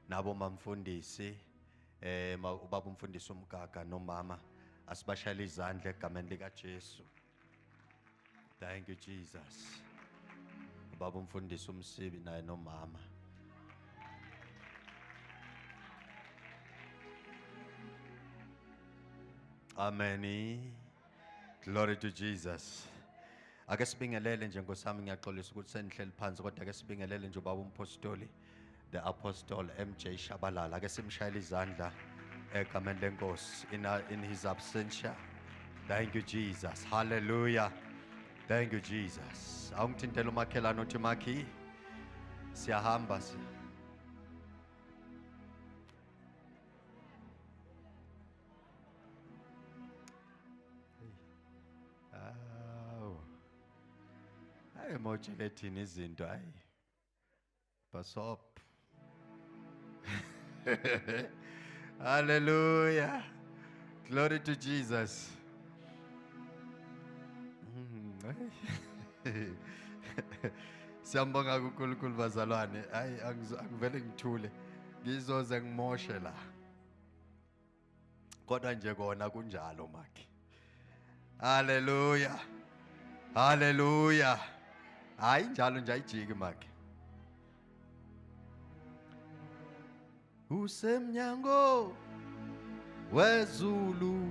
Nabo mamfundisi eh ubaba umfundisi umgaga nomama asibashayela izandla egameni lika Jesu. Thank you Jesus. Ubaba umfundisi umsibi naye nomama. Amen. Glory to Jesus. Ake sibingelele nje nkosami ngiyaxolisa ukuthi senihleli phansi kodwa ake sibingelele nje ubaba umpostoli. the apostle mj shabalala ke simshayela izandla egameni lenkosi in, in his absentia thank you jesus hallelujah thank you jesus awungithintela umakhelane uthi makhi siyahamba siya Awu. Hayi mojekethini izinto hayi. Pass up. Hallelujah. Glory to Jesus. Mm, ay. Siyambonga kuNkulunkulu bazalwane. Hayi angizo- angivele ngithule. Ngizoze ngimoshe la. kodwa nje kona kunjalo makhe haleluya haleluya hayi njalo nje ayijiki makhe usemnyango wezulu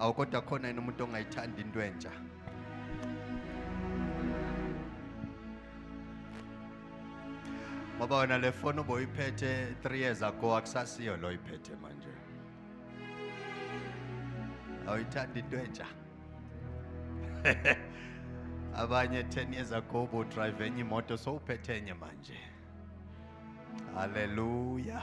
awu kodwa khona yena umuntu ongayithandi into entsha ngoba wena le foni uboyiphethe 3 years ago akusasiyo lo iphethe manje awuyithandi into entsha abanye 10 years ago ubudrive enye imoto sowuphethe enye manje haleluya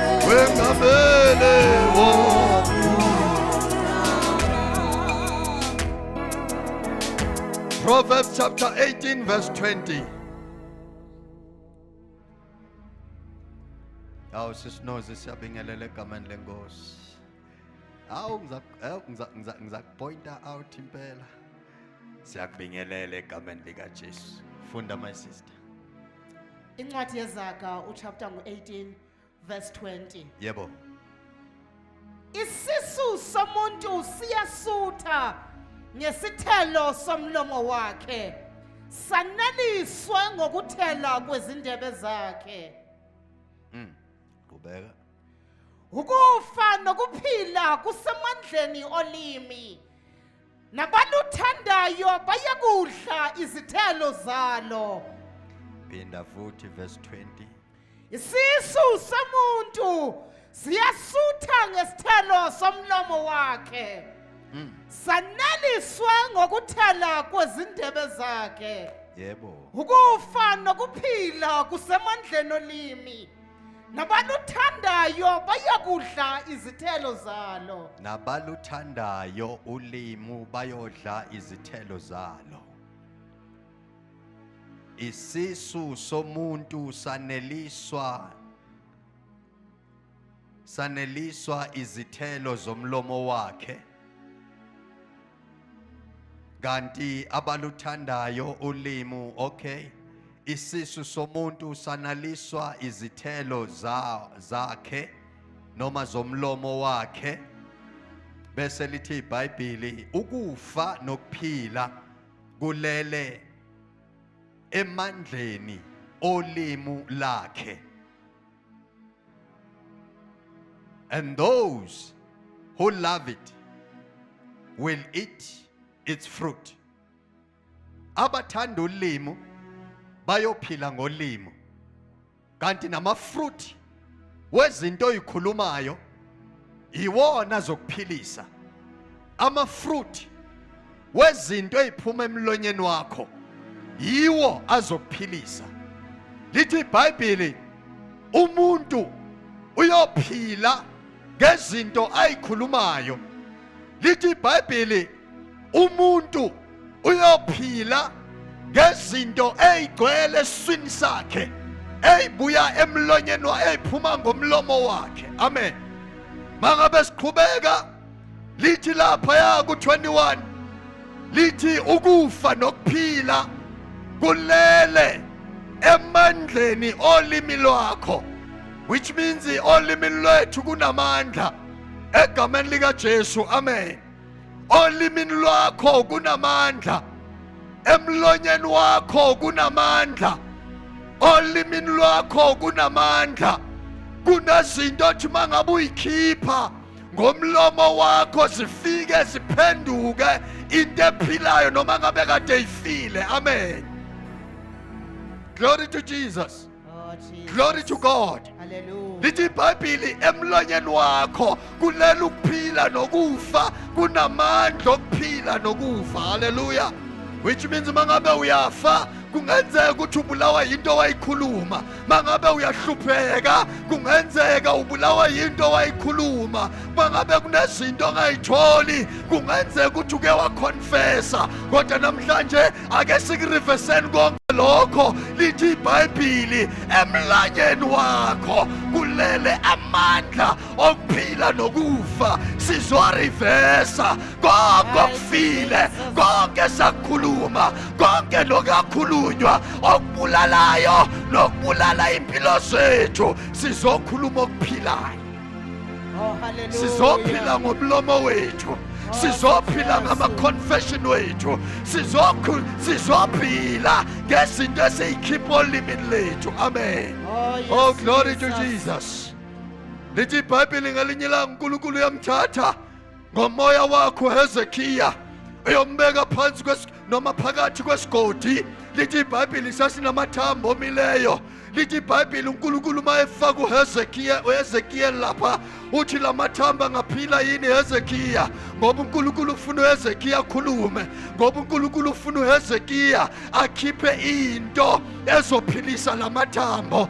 Proverbs chapter 18, verse 20. awu sisinoze siyabingelela egameni lenkosi awu ngizakupointa out impela siyakubingelela egameni likajesu funda my sister incwadi yezaga uchapter ngu-18 verse 20 yebo isisu somuntu siyasutha ngesithelo somlomo wakhe saneliswe ngokuthela kwezindebe zakhe mm qhubeka ukufa nokuphila kusemandleni olimi nabaluthandayo bayakudla izithelo zalo phinda futhi verse 20 isisu somuntu siyasutha ngesithelo somlomo wakhe mm. saneliswa ngokuthela kwezindebe zakhe yebo ukufa nokuphila kusemandleni olimi nabaluthandayo bayakudla izithelo zalo nabaluthandayo ulimu bayodla izithelo zalo isisu somuntu saneliswa saneliswa izithelo zomlomo wakhe kanti abaluthandayo ulimu okay isisu somuntu sanaliswa izithelo za zakhe noma zomlomo wakhe bese lithi iBhayibheli ukufa nokuphila kulele emandleni olimu lakhe And those who love it will eat its fruit. Abathanda ulimo bayophila ngolimo. Kanti namafruit wezinto oyikhulumayo yiwona azokuphilisa amafruit wezinto eziphuma emlonyeni wakho yiwo azokuphilisa lithi iBhayibheli umuntu uyophila ngezinto ayikhulumayo lithi iBhayibheli umuntu uyophila ngezinto ezigcwele eswini sakhe ezibuya emlonyeni eziphuma ngomlomo wakhe amen mangabe siqhubeka lithi lapha ya ku21 lithi ukufa nokuphila kulele emandleni olimi lwakho which means olimi lwethu kunamandla egameni likaJesu amen olimini lwakho kunamandla emlonyeni wakho kunamandla olimini lwakho kunamandla kunezinto othi uma ngabe uyikhipha ngomlomo wakho zifike ziphenduke into ephilayo noma ngabe kade ifile amen glory to jesus Oh, Jesus. glory to god Hallelujah. lithi ibhayibhili emlonyeni wakho kulela ukuphila nokufa kunamandla okuphila nokufa haleluya which means uma ngabe uyafa kungenzeka ukuthi ubulawa yinto owayikhuluma uma ngabe uyahlupheka kungenzeka ubulawa yinto owayikhuluma uma ngabe kunezinto ongayitholi kungenzeka ukuthi uke wakhonfesa kodwa namhlanje ake sikuriveseni konke lokho lithi ibhayibhili emlanyeni wakho kulele amandla okuphila nokufa sizorivesa konke okufile konke sakukhuluma konke nokakhulunywa okubulalayo nokubulala impilo zethu sizokhuluma okuphilayo sizophila ngomlomo wethu sizophila ngama-confession wethu sizophila ngezinto esiyikhipha olimini lethu amen oh, oh glory to jesus lithi ibhayibheli ngelinye ilanga unkulunkulu uyamthatha ngomoya wakho hezekiya uyombeka phansi noma phakathi kwesigodi lithi ibhayibhili sasinamathambo omileyo lithi ibhayibhili unkulunkulu uma efaka uhezekiya lapha uthi la mathamba angaphila yini hezekiya ngoba unkulunkulu ufuna uhezekiya akhulume ngoba unkulunkulu ufuna uhezekiya akhiphe into ezophilisa la mathambo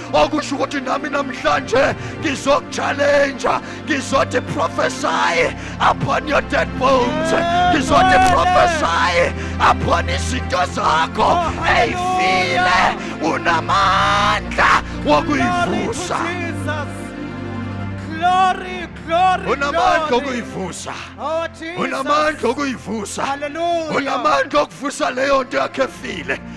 okusho ukuthi nami namhlanje ngizokuchallenge ngizothi prophesy upon your dead bones ngizothi prophesy upon izinto zakho eyifile unamandla wokuyivusa glory unamandla okuyivusa oh, unamandla okuyivusa unamandla okuvusa leyo nto yakhe efile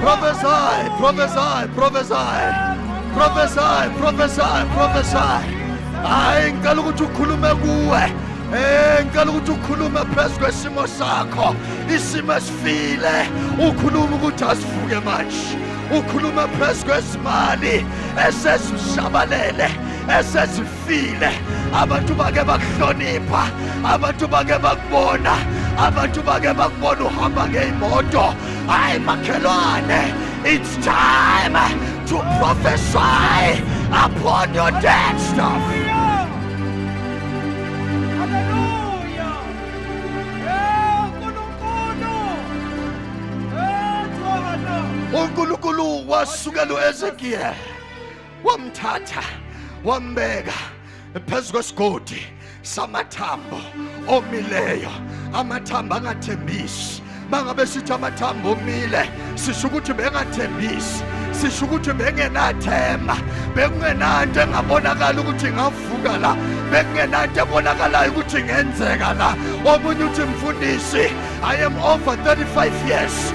Prophesy, prophesy, prophesy. Prophesy, prophesy, prophesy. Hayi ngicela ukuthi ukhulume kuwe. Eh ngicela ukuthi ukhulume phezu kwesimo sakho. Isimo esifile. Ukhuluma ukuthi asivuke manje. Ukhuluma phezu kwezimali esezishabalele esezifile. file abantu bake bakuhlonipha abantu bake bakubona abantu bake bakubona uhamba ngeyimoto hayi makhelwane it's time to prophesy upon your dead stuff unkulunkulu wasukela uezekiyeli wamthatha wambeka phezu kwesigodi samathambo omileyo amathambo angathembisi bangabe sithi amathambo omile sisho ukuthi bengathembisi sisho ukuthi bengenathemba bekungenanto engabonakala ukuthi ingavuka la bekungenanto ebonakalayo ukuthi ingenzeka la omunye uthi mfundisi i am over 35 years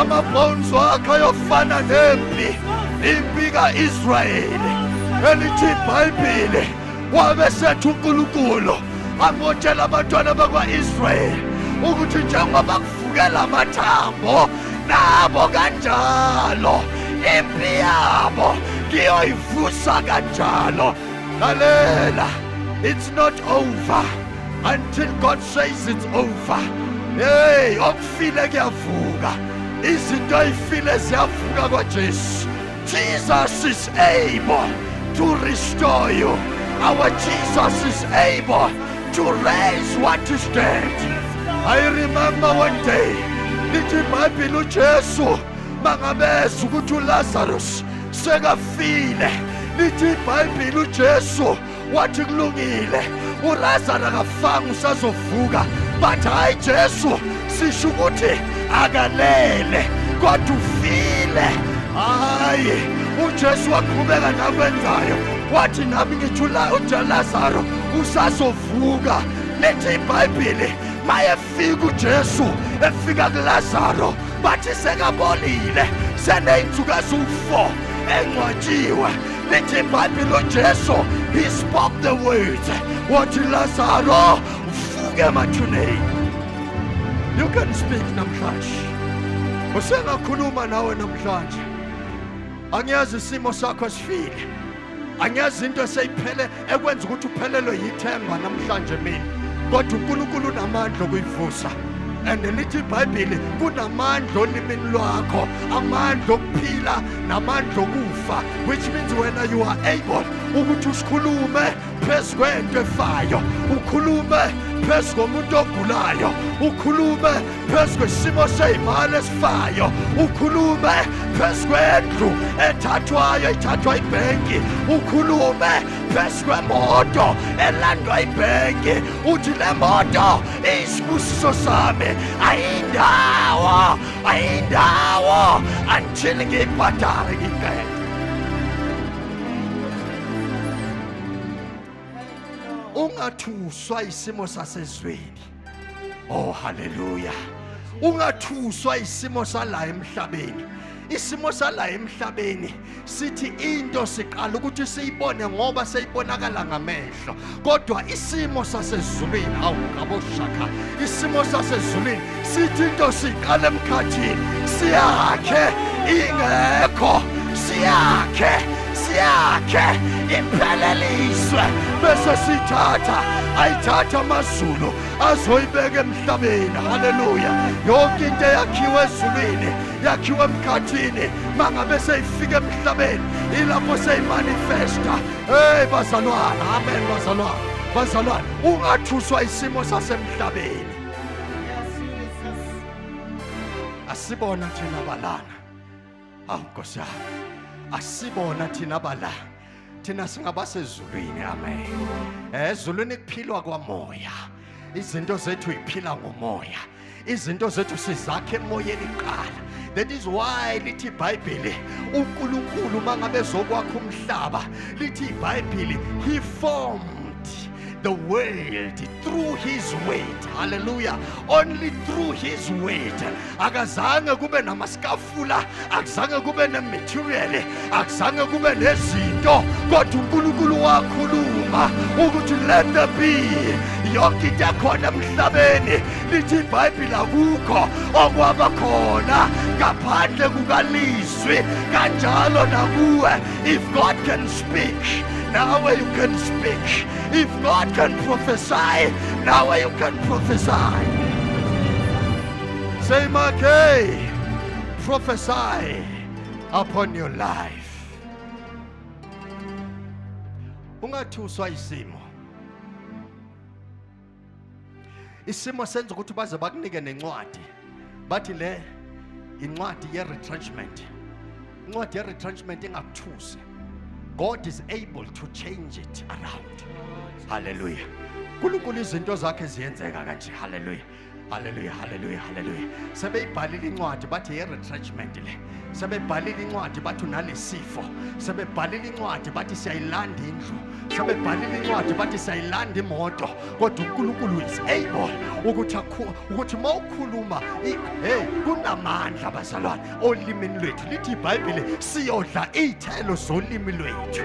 amabhonzo akhe ayofana nempi impi ka-israyeli elithi ibhayibhile wabe sethu unkulunkulu angotshela abantwana bakwa-israyeli ukuthi njengoba kuvukela amathambo nabo kanjalo impi yabo ngiyoyivusa kanjalo lalela it's not over until God says it's over hey okufile kuyavuka izinto ayifile ziyavuka kwaJesu Jesus is able to restore you our Jesus is able to raise what is dead I remember one day lithi iBhayibheli uJesu mangabeza ukuthi uLazarus sekafile lithi iBhayibheli uJesu wathi kulungile uLazaro akafanga usazovuka but hayi Jesu sisho ukuthi akalele kodwa ufile hayi uJesu waqhubeka nakwenzayo wathi nami ngijula uJelazaro usazovuka lithi iBhayibheli maye fika uJesu efika kuLazaro bathi sekabolile seneyinsuku eziwu-4 engcwatshiwe lithi ibhayibhile uJesu he spoke the words wathi Lazaro vuke emathuneni you can speak namhlanje usengakhuluma nawe namhlanje angiyazi isimo sakho sifile angiyazi into eseyiphele ekwenza ukuthi uphelelwe yithemba namhlanje mina kodwa unkulunkulu unamandla okuyivusa and lithi ibhayibhile kunamandla olimini lwakho amandla okuphila namandla okufa which means wena you are able ukuthi usikhulume phezu kwento efayo ukhulume phezu komuntu ogulayo ukhulume phezu kwesimo seyimali esifayo ukhulume phezu kwendlu ethathwayo ithathwa ibhenki ukhulume phezu kwemoto elandwa ibhenki uthi le moto iyisibusiso sami ayindawo ayindawo until ngiyibhadale ngibheke ungathuswa isimo sasezweni oh haleluya ungathuswa isimo sala emhlabeni isimo sala emhlabeni sithi into siqala ukuthi siyibone ngoba seyibonakala ngamehlo kodwa isimo sasezulwini hawu ngaboshaka isimo sasezulwini sithi into siqala emkhathini siyakhe ingekho siyakhe siyakhe ipheleliswe bese sithatha ayithatha amazulu azoyibeka emhlabeni haleluya yonke into eyakhiwe ezulwini yakhiwe emkhathini mangabe seyifika emhlabeni ilapho seyimanifesta Hey bazalwane, amen bazalwane. Bazalwane, ungathuswa isimo sasemhlabeni. Asibona thina balana. Awu Nkosi yami. Asibona thina bala. Thina singabasezulwini, amen. Eh, ezulwini kuphilwa kwamoya. Izinto zethu iphila ngomoya. izinto zethu sizakhe emoyeni kuqala that is why lithi ibhayibheli unkulunkulu uma ngabe zokwakha umhlaba lithi ibhayibheli he formed the world through his weight hallelujah only through his weight akazange kube namaskaf ukufula akuzange kube nematerial akuzange kube nezinto kodwa uNkulunkulu wakhuluma ukuthi let the be yonke into ekhona emhlabeni lithi ibhayibhile akukho okwaba khona ngaphandle kukalizwi kanjalo nakuwe if god can speak nawe you can speak if god can prophesy nawe you can prophesy Say Makay, prophesy upon your life. Ungathuswa isimo. Isimo senza ukuthi baze bakunike nencwadi. Bathi le incwadi ye retrenchment. Incwadi ye retrenchment ingakuthusi. God is able to change it around. Hallelujah. uNkulunkulu izinto zakhe ziyenzeka kanje haleluya Hallelujah, hallelujah, hallelujah. Sebeyibhalile incwadi bathi ye retrenchment le. Sebebhalile incwadi bathi unalesifo. Sebebhalile incwadi bathi siyayilanda indlu. Sebebhalile incwadi bathi siyayilanda imoto. Kodwa uNkulunkulu is able ukuthi ukuthi mawukhuluma hey kunamandla bazalwane olimini lwethu lithi iBhayibheli siyodla izithelo zolimi lwethu.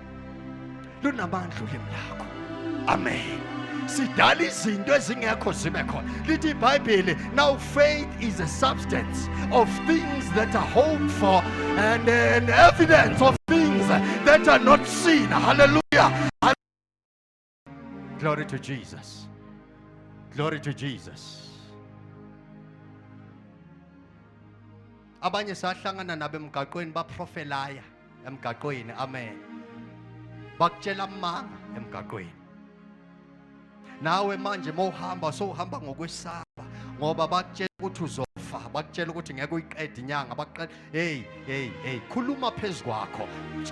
lunamandla ulimi lakho amen sidala izinto ezingekho zibe khona lithi ibhayibheli now faith is a substance of things that are hoped for and an evidence of things that are not seen hallelujah Glory to Jesus. Glory to Jesus. Abanye sahlangana nabo emgaqweni baprofelaya emgaqweni. Amen. Bakutshela amanga emgaqweni. Nawe manje mawuhamba sowuhamba ngokwesaba ngoba bakutshela ukuthi uzofa, bakutshela ukuthi ngeke uyiqede inyanga, bakutshela hey hey hey khuluma phezu kwakho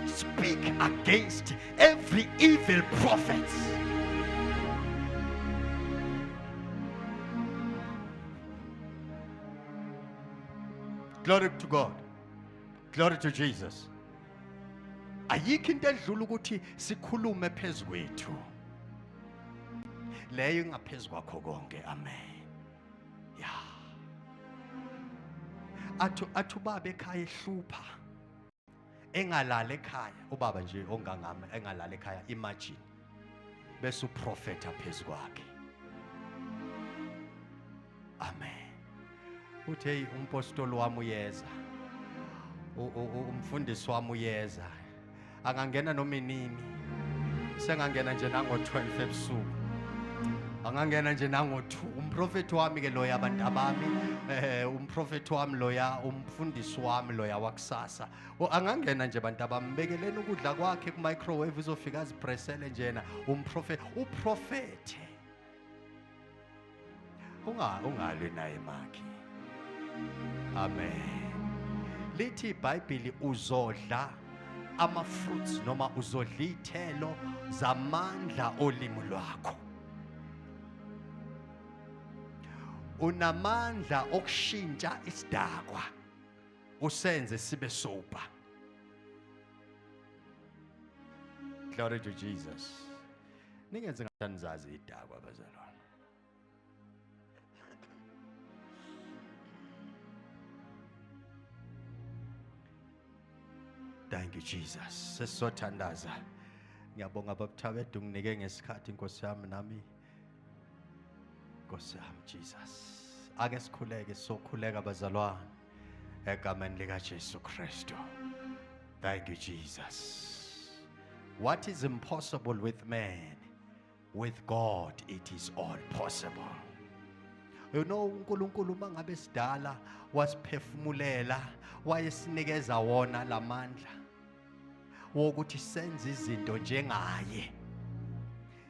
speak against every evil prophet glory to god glory to jesus ayikho into edlula ukuthi sikhulume phezu kwethu leyo ingaphezu kwakho konke amen ya athu athu baba ekhaya ehlupha engalala ekhaya ubaba nje ongangami engalala ekhaya imagine bese uprofeta phezu kwakhe amen uthi hey umpostoli wami uyeza umfundisi wami uyeza angangena noma inini sengangena nje nango-12 ebusuku angangena nje nango-2 umprofethi wami ke loya abantu abami eh umprofethi wami loya umfundisi wami loya wakusasa angangena nje abantu abambekeleni ukudla kwakhe ku-microwave uzofika azipresele njena umprofethi uprofethe unga ungalwe naye makhi amen lithi ibhayibhili uzodla ama-fruits noma uzodla iy'thelo zamandla olimi lwakho unamandla okushintsha isidakwa usenze sibe soba glory to jesus ningenze ngathanizazi idakwa bazalwane Thank you Jesus. Sesizothandaza. Ngiyabonga babuthabethu nginike ngesikhathi Nkosi yami nami. Nkosi yami Jesus. Ake sikhuleke sokhuleka bazalwane. egameni likaJesu Kristu thank you Jesus what is impossible with man with God it is all possible you know uNkulunkulu mangabe sidala wasiphefumulela wayesinikeza wona lamandla wokuthi senze izinto njengaye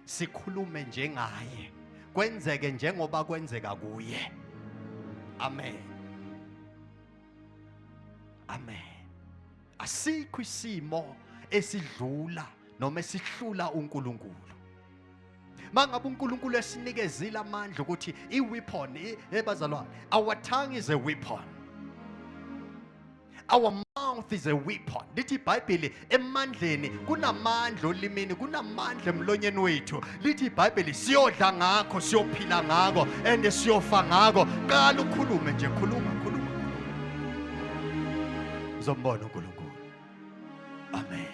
sikhulume njengaye kwenzeke njengoba kwenzeka kuye amen amen asikho isimo esidlula noma esihlula uNkulunkulu mangabe uNkulunkulu esinikezile amandla ukuthi iweapon ebazalwane our tongue is a weapon Our mouth is a weapon. Lithi iBhayibheli emandleni kunamandla olimini, kunamandla emlonyeni wethu. Lithi iBhayibheli siyodla ngakho, siyophila ngakho and siyofa ngakho. Qala ukhulume nje, khuluma, khuluma, khuluma. Uzombona uNkulunkulu. Amen.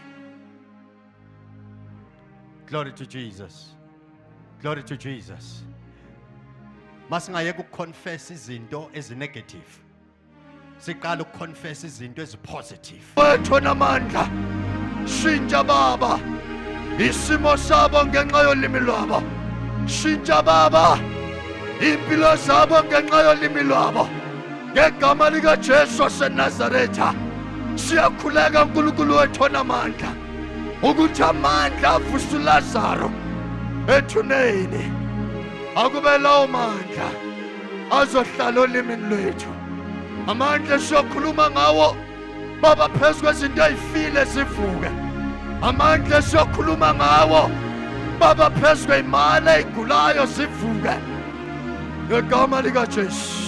Glory to Jesus. Glory to Jesus. Masingayeka ukuconfess izinto ezinegative. siqala ukuconfess izinto ezipositive wethu namandla shintsha baba isimo sabo ngenxa yolimi lwabo shintsha baba impilo zabo ngenxa yolimi lwabo ngegama likajesu wasenazaretha siyakhuleka nkulunkulu wethu onamandla ukuthi amandla avuse ulazaro ethuneni akube lawo mandla azohlala olimini lwethu amandla esiyokhuluma ngawo baba phezu kwezinto ey'file zivuke amandla esiyokhuluma ngawo baba phezu kwey'mali ey'gulayo zivuke ngegama likajesu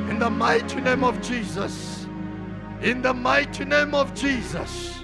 in the mighty name of jesus in the mighty name of jesus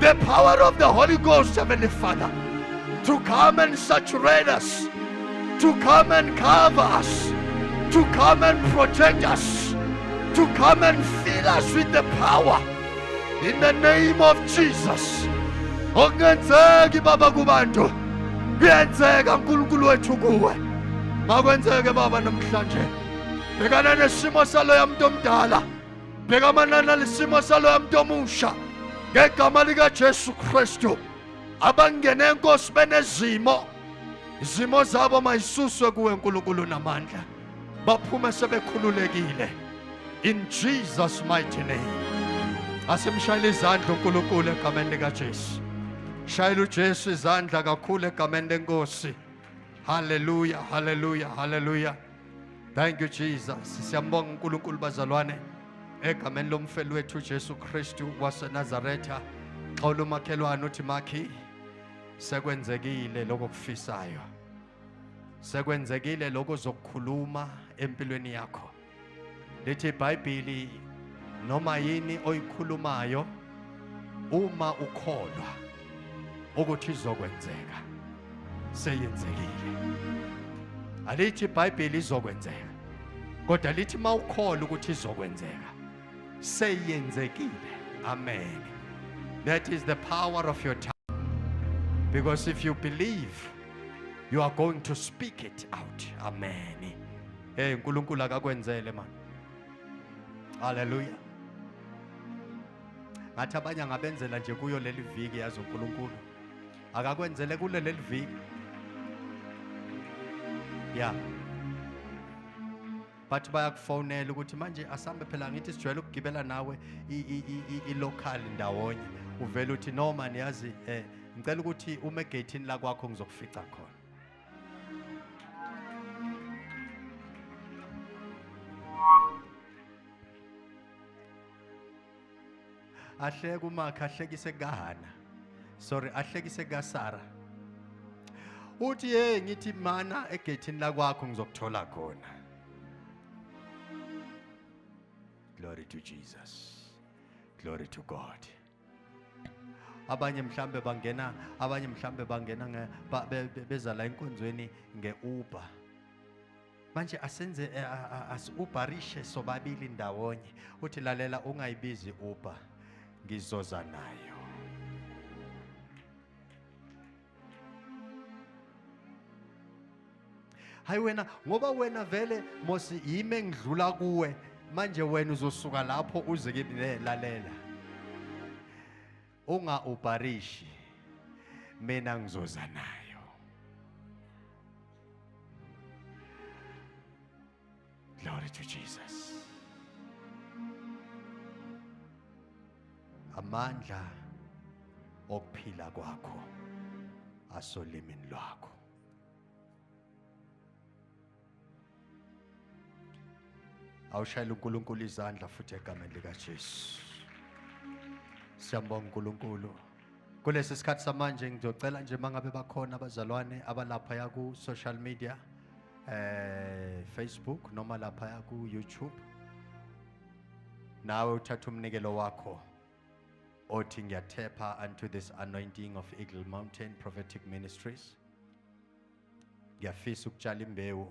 the power of the Holy Ghost, Heavenly Father, to come and saturate us, to come and cover us, to come and protect us, to come and fill us with the power. In the name of Jesus. Okungenzeki baba kubantu kuyenzeka uNkulunkulu wethu kuwe. Makwenzeke baba namhlanje. Bhekana nesimo saloya muntu omdala. bheka manana lisimo saloya muntu omusha ngegama likaJesu Kristu abangene enkosi benezimo izimo zabo mayisuswe kuwe nkulunkulu namandla baphume sebekhululekile in jesus mighty name asimshayela izandla unkulunkulu egameni likajesu shayela ujesu izandla kakhulu egameni lenkosi haleluya haleluya haleluya Thank you Jesus. Siyambonga uNkulunkulu bazalwane egameni lomfeli wethu uJesu Kristu waseNazaretha. Xawula umakhelwane uthi makhi sekwenzekile lokho kufisayo. Sekwenzekile lokho zokukhuluma empilweni yakho. Lithi iBhayibheli noma yini oyikhulumayo uma ukholwa ukuthi izokwenzeka seyenzekile alithi ibhayibheli izokwenzeka kodwa lithi uma ukholwa ukuthi izokwenzeka seyenzekile amen that is the power of your tongue because if you believe you are going to speak it out amen hey uNkulunkulu akakwenzele manje haleluya ngathi abanye angabenzela nje kuyo leli viki yazi unkulunkulu akakwenzele kule leli viki ya bathi bayakufonela ukuthi manje asambe phela ngithi sijwayele ukugibela nawe i-local ndawonye uvele uthi no mani yazi um ngicela ukuthi ume egeyithini lakwakho ngizokufica khona ahleke umakhe ahlekise kahana sorry ahlekise kasara uthi ye ngithi mana egethini lakwakho ngizokuthola khona glory to jesus glory to god abanye mhlambe bangena abanye mhlambe bangena beza la enkonzweni nge-uber manje asenze eh, ah, ah, asi-uberishe sobabili ndawonye uthi lalela ungayibizi uber ngizoza nayo hayi wena ngoba wena vele mosi yimi engidlula kuwe manje wena uzosuka lapho uze kimi lalela unga ubharishi mina ngizoza naye Glory to Jesus. Amandla okuphila kwakho asolimini lwakho. Awushayela uNkulunkulu izandla futhi egameni lika Jesu. Siyambonga uNkulunkulu. Kulesi sikhathi samanje ngizocela nje mangabe bakhona abazalwane abalapha ya ku social media eh Facebook noma lapha ya ku YouTube nawe uthatha umnikelo wakho othi ngiyathepha unto this anointing of Eagle Mountain Prophetic Ministries ngiyafisa ukutshala imbewu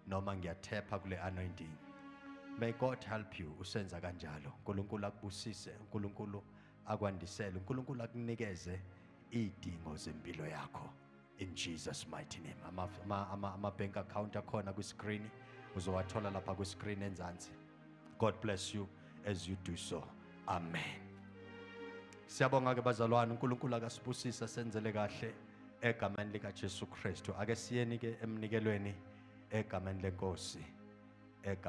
noma ngiyathepha kule anointing may god help you usenza kanjalo unkulunkulu akubusise unkulunkulu akwandisele unkulunkulu akunikeze iy'dingo zempilo yakho in jesus mighty name ama-bank ama, ama, ama account akhona kwiskrini uzowathola lapha kwiskrini enzansi God bless you as you do so. Amen. Siyabonga ke bazalwane uNkulunkulu akasibusisa senzele kahle egameni lika Jesu Kristu. Ake siyeni ke emnikelweni egameni lenkosi. Egameni